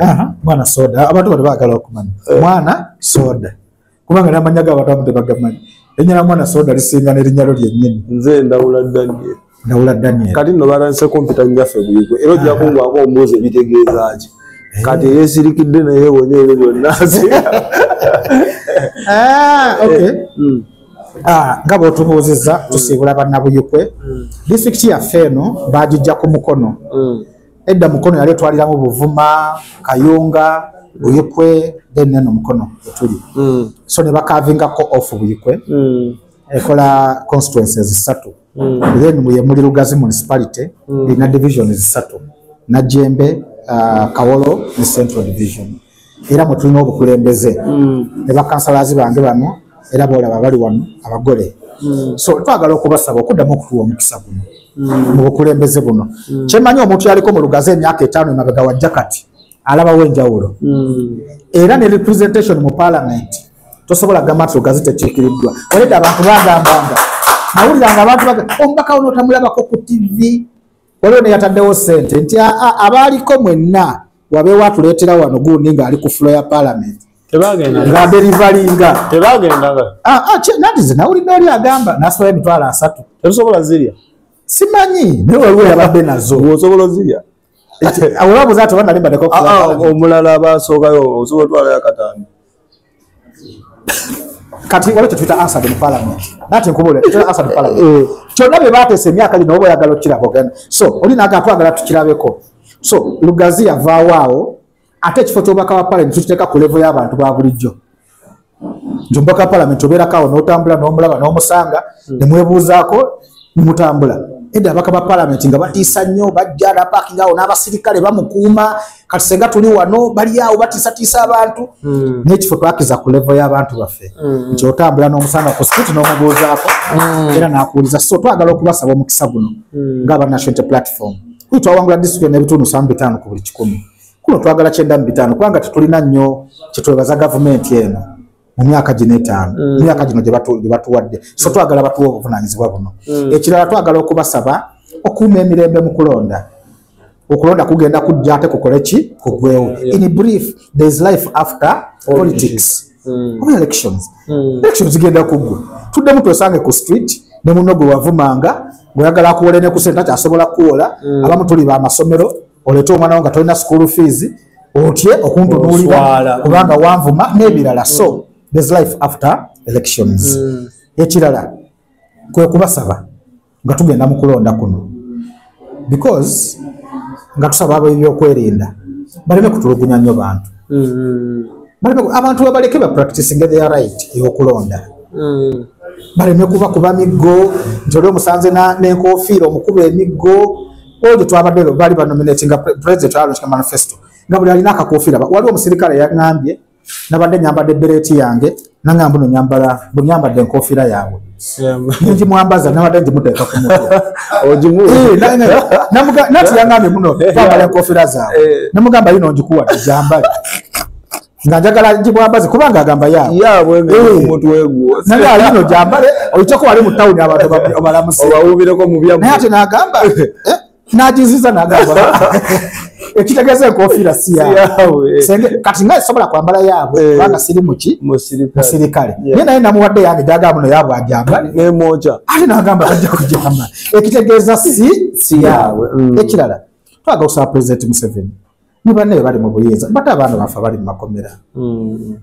Aha, mwana soda abantu bali bagala okumanya mwana soda kubanga namanya ga abantu tebagamanya erinnya lya mwana soda lisinga n'erinnya lyo lyennyini nze ndawula daniel ndawula daniel kati no balanse kompyuta nnyaffe buyigwe era ojja kungwako ombuuzi ebitegeeza ki eh. kati eyesirikidde naye wonyeero byonna ah, eh, hmm. Ah, nga bwotubuuzizza mm. tusiibula bannabuyikwe mm. disitulikiti yaffe eno bagijja ku mukono mm. edda mukono yali etwaliramu buvuma kayunga buyikwe then neno mukono etuli so ne bakavingako off buyikwe ekola constituency ezisatu then yemuli lugazi municipality erina division ezisatu najembe ah, kawolo ne central division era mwe tulina obukulembeze mm. ne bakansalazi bange bano era boolaba bali wano abagole mm. so twagala okubasaba okuddamu okutuwa omukisa guno mm. mu bukulembeze buno kyemanyi omuntu yaliko mu lugazi emyaka etaano emabega wajja kati alabawo enjawulo era ne representation mu palamenti tosobola gamba nti lugazi tekiikiriddwa oleda abantu bagambanga nawuliranga abantu omubaka wono otamulabako ku tivi waliwo neyataddewo sente nti abaaliko mwenna wabeewo atuleetera wano gundi ng'ali ku fulo ya palamenti ngaaberivalinga nawulidde oli agamba nasobola emitwalo asatu ebisobola zirya simanyi naye waliwo yabadde nazo osobola ozirya omulala basookayo osobola otwalayo akatano kati waliwo kyetuyita ansad mu parliament nati nkubule tuyita ansad parliament eh, eh. kyonna bye bateesa emyaka gino oba oyagala okukiraba ogenda so oli naga twagala tukirabeko so lugazi yavaawo awo ate ekifo kyobaka wa parliament tukiteeka ku levo y'abantu ba bulijjo nti omubaka wa parliament obeerako awo n'otambula n'omulaba n'omusanga hmm. ne mwebuuzaako mutambula edda abaka ba parliament nga batiisa nnyo bajja napakinga awo n'abasirikale bamukuuma kati senga tuli wano bali awo batiisatiisa abantu hmm. n'ekifo twakiza ku levo y'abantu baffe hmm. nti otambula n'omusanga ku street n'omubuuzaako hmm. era n'akuwuliza so twagala okubasaba omukisa guno ng'aba national platform kuyi twawangula disitulikiti n'ebitundu musanvu bitaano ku buli kikumi kuno twagala kyenda mu bitaano kubanga tetulina nnyo kyetwebaza gavumenti eno mu myaka gino etaano mm. mu myaka gino gye batuwadde so twagala batuwa obuvunaanyizibwa buno mm. ekirala twagala okubasaba okuuma emirembe mu kulonda okulonda kugenda kujja ate kukole ki kugwewo in brief there is life after politics mm. oba elections mm. elections zigenda kuggwa tuddemu twesange ku street ne muno gwe wavumanga ng'oyagala akuwole ne kusente akyasobola kuwola mm. abamu tuli ba masomero olete omwana wo nga tolina school fees otye okuntunuulira kubanga wanvuma n'ebirala so there's life after elections mm. ekirala kwe kubasaba nga tugenda mu kulonda kuno because nga tusaba abebyokwerinda baleme kutulugunya nnyo bantu mm. abantu babaleke bapracticing their right eyokulonda mm. baleme kuba kuba miggo nti oli omusanze n'enkofiira omukuba emiggo all the twabadde lwe baali banominatinga president alontika manifesto nga buli alina akakofiira waliwo omusirikale yaŋambye nabadde nyambadde bereeti yange naŋamba no nyambala bwe nyambadde enkofiira yaabwe njimwambaza nabadde njimuteeka ku mutnati yaŋambye muno twambala enkofiira zaabwe namugamba yino njikuwadde jambale nga njagala gibwambaze kubanga agamba yaabwenayali eh. no gyambale oiteko wali mu tawuni abantu obalamuseobawubireko mubyamunaye ate nagamba eh, nagiziza nagamba ekitegeeza enkofiira si yaabwe kati nga esobola kwambala yaabwe eh. kubanga siri muki musirikale naye naye namuwadde yange gyagamba no yaabwe ajambalemoja ate nagamba bajja kujamba ekitegeeza si si yaabwe mm. ekirala twagala okusaba pulezidenti museveni ne banne bali mu buyinza bata abaana bafe bali mu makomera hmm.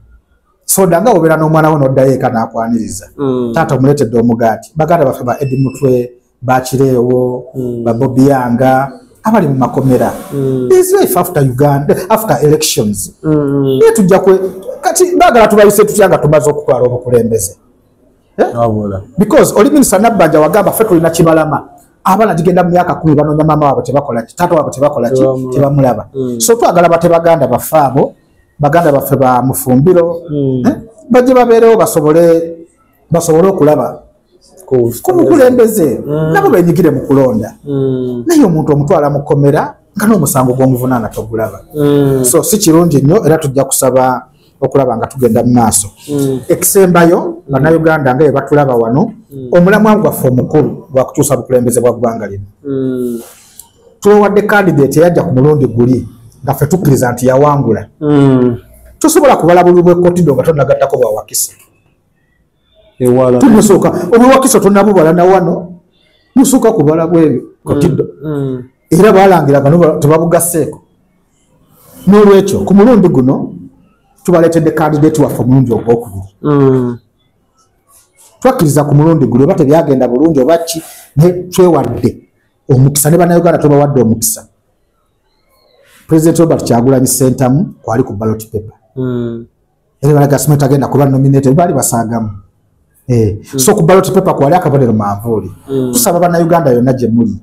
soda nga obeera n'omwana wo n'oddayo eka n'akwaniriza hmm. taata omuleetedde omugaati baganda bafe ba edi mutwe bakireewo hmm. babobiyanga abali mu makomera islife after uganda after elections naye tujja kati bagala tubayise tutya nga tumaze okutwala obukulembeze Eh? because oli minisita nabbanja wagamba fe tulina kibalama abaana gigenda mu myaka kumi banoonya maama waabwe tebakolaki taata waabwe tebakolaki tebamulaba hmm. so twagala bate baganda baffe abo baganda baffe ba mufumbiro hmm. eh? bajje babeerewo basobole basobole okulaba kumukulembeze hmm. nabo benyigire mu kulonda naye omuntu omutwala mu kkomera nga n'omusango gw'omuvunaana togulaba so si kirungi nnyo era tujja kusaba okulaba nga tugenda mu maaso mm. ekisembayo nga mm. nauganda nga yebatulaba wano mm. omulamwa gwaffe omukulu gwakukyusa bukulembeze bwa ggwanga lino tubawadde kandidate eyajja ku mulundi guli nga ffe tukkiriza nti yawangula tosobola kubala bulubwekkotido nga tonagattako bwawakisa ewala tumusooka obwewakisa tonabubala na wano musooka kubala bwebyo katido mm, mm. era balangira kano tebabugaseeko n'olwekyo ku mulundi guno tubaleetedde kandidati waffe omulundi ogwokubiri mm. twakkiriza ku mulundi guno oba tebyagenda bulungi oba ki naye twewadde omukisa ne banauganda tubawadde omukisa president robert kyagulanyi sentamu kwali ku ballot paper mm. era balaga sima tagenda kuba nominated bali basagamu eh mm. so ku ballot paper kwali akabonero manvuli mm. tusaba bana Uganda yona je muli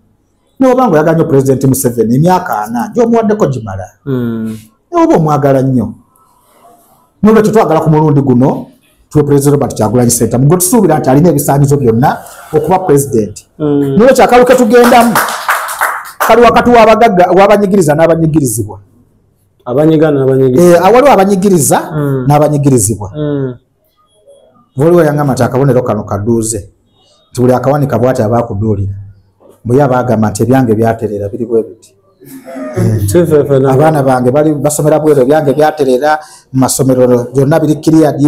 ne obango yaganyo president Museven emyaka ana jo muwadde ko jimala mm. ne obo mwagala nnyo nolwe twagala ku mulundi guno tuwe president Robert Kyagulanyi Ssentamu mugwe tusuubira nti alina ebisaanyizo byonna okuba president mm. nolwe kyakalu ke tugendamu kali wakati w'abagagga w'abanyigiriza n'abanyigirizibwa eh, awaliwo abanyigiriza mm. n'abanyigirizibwa mm. waliwo yangamba nti akabonero kano kaduuze nti buli akawanika bwati aba akuduulira mbuye abaagamba nti ebyange byaterera biri bwe biti abaana bange bali basomera bweru ebyange byatereera mu masomero byonna biri kiriyadi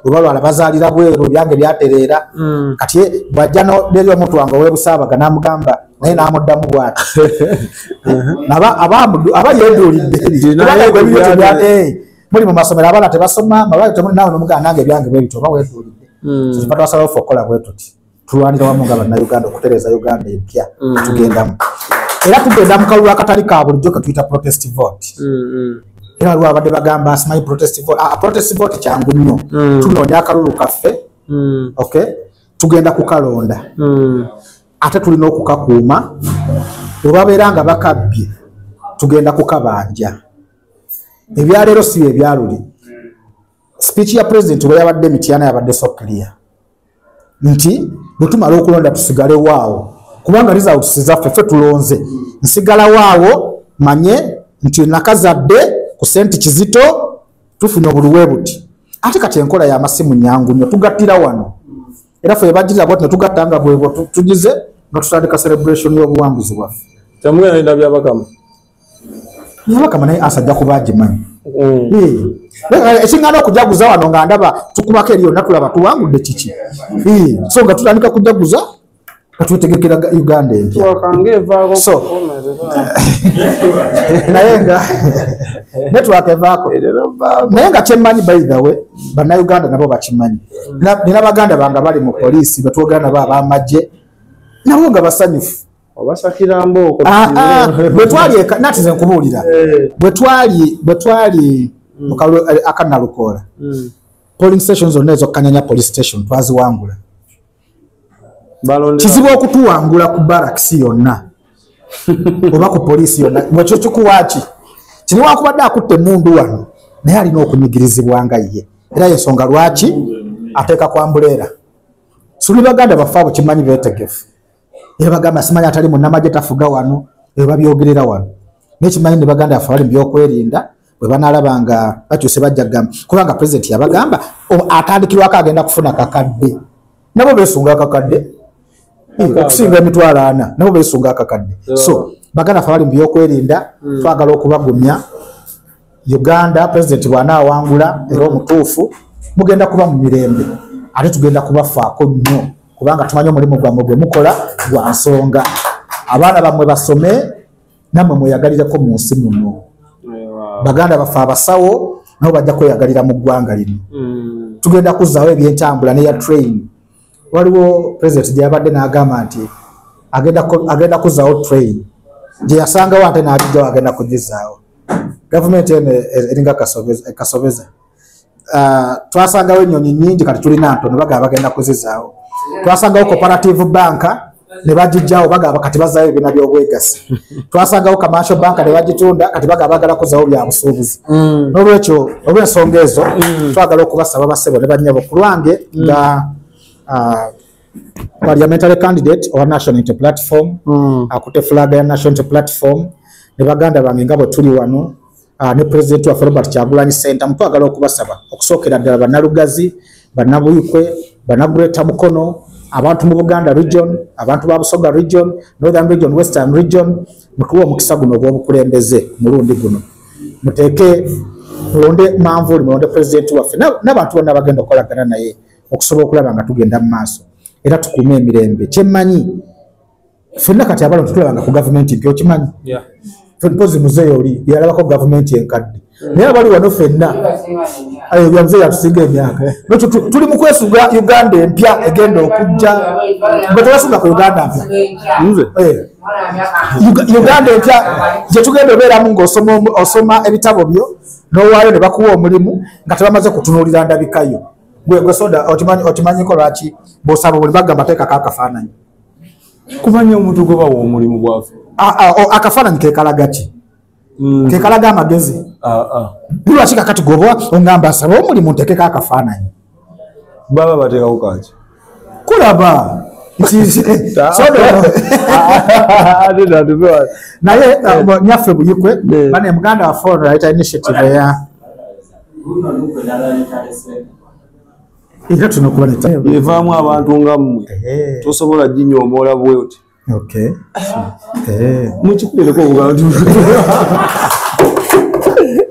webalwala bazaalira bweru ebyange byatereera mm. kati bwajja neri omuntu wange owebusaabaga namugamba naye namuddamu bwati aba yeduulidde muli mu masomero abaana tebasoma mabale temuli nawe nomugaa nange ebyange bwebityo oba weduulidde hmm. kyekiva twasalawo fe okukola bwetuti tulwanira wamu nga bannauganda okutereeza uganda empya hmm. tugendamu era tugenda mu kalulu akatali ka bulijjo ketuyita protest vote hmm, era waliwo abadde bagamba simanyi protest vote ah, protest vote kyangu nnyo tunoonya akalulu kaffe okay tugenda kukalonda ate tulina okukakuuma webabeera nga bakabbye tugenda kukabanja ebyaleero si byebyaluli speech ya president bwe yabadde mityana yabadde so clear nti bwetumala okulonda tusigale waawo kubanga results zaffe ffe tulonze nsigala waawo manye nti nakazadde ku senti kizito tufuna obuluwe buti ate kati enkola yamasimu nyangu nyo tugattira wano era fe bajjira bwati netugatta nga bwebwo tugize nga tutandika celebration y'obuwanguzi bwaffe temugenda nenda byabakama byabakama naye asajja kuba agimanyi mm. eh, ekiŋgana okujaguza wano nga ndaba tukubako eriyo natulaba tuwangudde kiki eh, so nga tutandika kujaguza katwetegekera uganda empyaso naye nga netwaka evaako naye nga kyemmanyi baithawe bannayuganda nabo bakimanyi nina baganda bange bali mu poliisi betwogera nabo abamagye nabo nga basanyufu ah, ah, bwetwalinatize nkubuulira eh. bwetwali bwetwali mm. eh, akanalukoola mm. polling station zonna ezokkanyanya police station twaziwangula kizibu okutuwangula ku baraks yonna oba ku poliisi yonna mwekyo kikuwaaki kino wakubadde akutte emundu wano naye alina okunyigirizibwa nga ye era yensonga lwaki ateeka kwambuleera suli baganda baffe abo kimanyi betegefu era bagamba simanyi atali munamagye tafuga wano ebabyogerera wano naye kimanyi ne baganda baffe bali mu byokwerinda bwe banaalaba nga bakyuse bajja kugamba kubanga pulezidenti yabagamba atandikirwako agenda kufuna kakadde nabo beesunga akakadde okusinga emitwalo ana nabo beesunga akakadde so baganda fe bali mu byokwerinda hmm. twagala okubagumya uganda pulezidenti bw'anaawangula era omutuufu mugenda kuba mu mirembe ate tugenda kubafaako nnyo kubanga tumanyi omulimu gwammwe gwe mukola gwa nsonga abaana bammwe basome namwe mweyagalireko mu nsi muno baganda baffe abasawo nabo bajja kweyagalira mu ggwanga lino mm. tugenda kuzzaawo ebyentambula neya train waliwo president gyeyabadde n'agamba nti agenda kuzzaawo train gyeyasangawo ate n'agijjawo agenda kugizaawo gavumenti eno eringa kasobeza uh, twasangawo ennyonyi nyingi kati tulina ntono bagaba bagenda kuzizaawo twasangawo cooperative bank ne bagijjawo bagaba kati bazaayo ebibiina by'obwegassi twasangawo commercial bank ne bagitunda kati bagaba bagala kuzawo bya busuubuzi mm. n'olwekyo olw'ensonga ezo mm. twagala okubasaba basebo ne bannyabo ku lwange mm. nga uh, parliamentary candidate owa national inter platform mm. akute flag ya national inter platform ne baganda bange nga bwe tuli wano Ah, ne pulezidenti waffe robert kyagulanyi sentamu twagala okubasaba okusookera ddala bannalugazi bannabuyikwe bannagureta mukono abantu mu buganda region abantu ba busoga region northern region western region mutuwe omukisa guno ogw'obukulembeze mulundi guno muteeke mulonde manvuuli mulonde pulezidenti waffe n'abantu bonna bagenda okukolagana naye okusobola okulaba nga tugenda mu maaso era tukuume emirembe kyemmanyi fenna kati abalo tetulabanga ku gavumenti mpya okimanyi mpozi muzeeyi oli yalabako gavumenti enkadde hmm. naye abali wano fenna bya muzeeyi atusinga emyaka nekyo tuli mu kwesuga uganda empya egenda okujja nga tebasuga ku uganda mpya eh. uganda empya gyetugenda obeeramu ngaosoma ebitabo byo nowaayo ne bakuwa omulimu nga tebamaze kutunuulira ndabikayo gwe gwe soda otimanyiko lwaki bwosaba buli bagamba teekako akafaananyi kubanya omuntu gwe bawa omulimu gwafe akafaananyi kekalaga ki mm. kekalaga amagezi lwaki kakati gweoba ongamba asaba omulimu ntekeko akafaananyi baba bateekawo kaki kulaba naye uh, nyaffe buyikwe bane muganda wa foreign right initiative eya era tulina okuba evaamu abantu nga mmwe tosobola ginyoomoola bwewti mukikulereko obubantu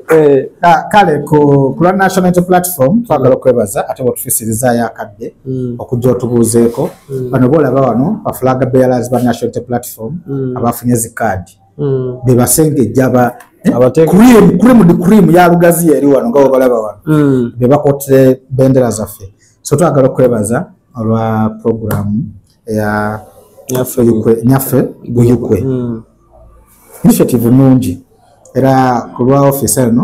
Eh, ah, kale ku lwa national inter platform twagala okwebaza ate bwetufisirizaayo akadde hmm. okujja otubuuzeeko hmm. bano boolaba wano bafulaga bealers ba national inter platform hmm. abafunye zi kaadi mm. bebasengejja ba eh, cream cream di cream ya lugazi eri wano nga obalaba wano mm. bebakote bendera zaffe so twagala okwebaza olwa program ya nyaffe yukwe nyaffe yukwe mm. initiative nungi era kulwa office eno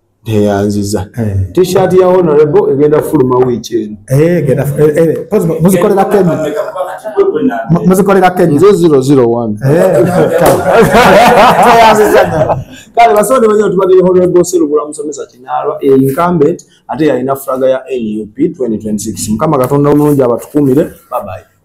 neyanziza eh. t-shirt ya honorable egenda fuluma wiiki eno eh, eh, muzikolera kenya muzikolera kenya nze zero zero one kale basonde banyo tubadde ya honorable serubula musomesa kinalwa incumbent ate yalina flaga ya nup 2026 mukama katonda omulungi abatukumire babaye